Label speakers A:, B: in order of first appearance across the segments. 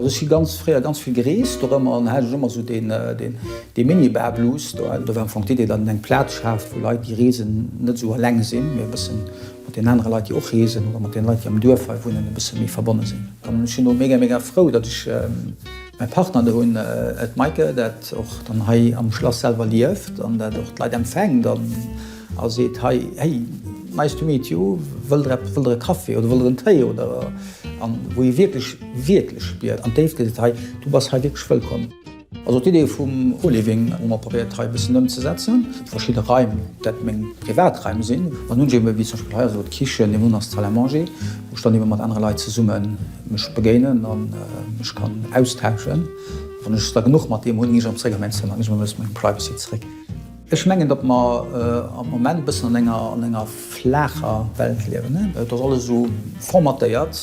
A: Ech si ganz fréier ganz vill gereest do rëm an hat ech ëmmer sou deen deen dee Minibar-Blues do. Do war am Fong d'Idee, datt een eng Plaz schaaft, wou Leit, déi reesen, net esou eleng sinn, mee e bëssen mat den anere Leit déi och reesen oder mat den Leit déi am Duerf hei wunnen e bësse méi verbonne sinn. An ech sinn och mega mega frou dat ech mäi Partner do hunn, d'Maike dat och dann hei am Schlass selwer lieft an dat och d'Leit empfänkt an a seet hei hey nice to meet you, wëllt der eppes, wëllt der e Café oder wëllt der en Téi oder an wou ee wierklech wierklech spiert an d'Déifte seet hei du bass hei wierklech wëllkomm. Also d'Idee vum Co-Living hu mer probéiert hei e bëssen ëmzesetzen. Verschidde Raim, dat meng Privatraim sinn, an hunn ebe wéi zum Beispill hei, also d'Kichen, deen Unass d'Salle à manger, wou ech dann ebe mat anere Leit zesumme mech begéinen a mech kann austauschen. Wann ech es da genuch mat deem hunn, ginn ech erëm zeréck a mäin Zëmmer, ginn ech erëm e bësse mengem Privacy zeréck. Ech mengen, datt mer am Moment e bëssen an enger flaacher Welt liewen. Et ass alles esou formatéiert.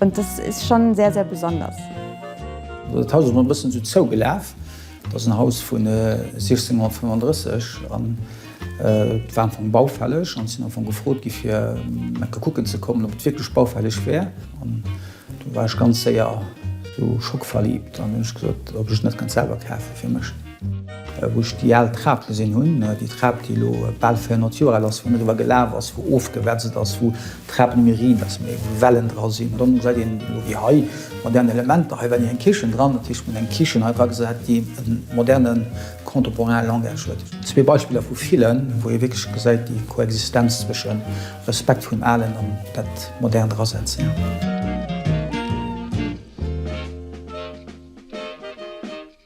B: Und das ist schon sehr, sehr besonders.
A: Dat Haus ass mol e bëssen esou zougelaf. Dat ass en Haus vun 1635 an et war am Fong baufälleg an ech sinn am Fong gefrot gi fir enke kucken ze kommen, ob et wierklech baufälleg wär. An do war ech ganz séier esou schockverliebt an hunn ech gesot, ob ech et net kënnt selwer kafe fir mech. Wou ech déi al Trap gesinn hunn, déi Trap, déi elo bal 400 Joer al ass, wou een driwwer gelaf ass, wou ofgewetzelt ass, wou d'Trap net méi riit ass, mee wou Wellen dra sinn. Dann gesäit een elo wéi hei modern Elementer. Hei war ni eng Kichen dran, dat heescht, mir hunn eng Kichen hei dragesat, déi e moderne contemporain Langage huet. Zwee Beispiller vu villen, wou ee wierklech gesäit déi Koexistenz zwësche Respekt vum Alen an dat Modernt drasetzen.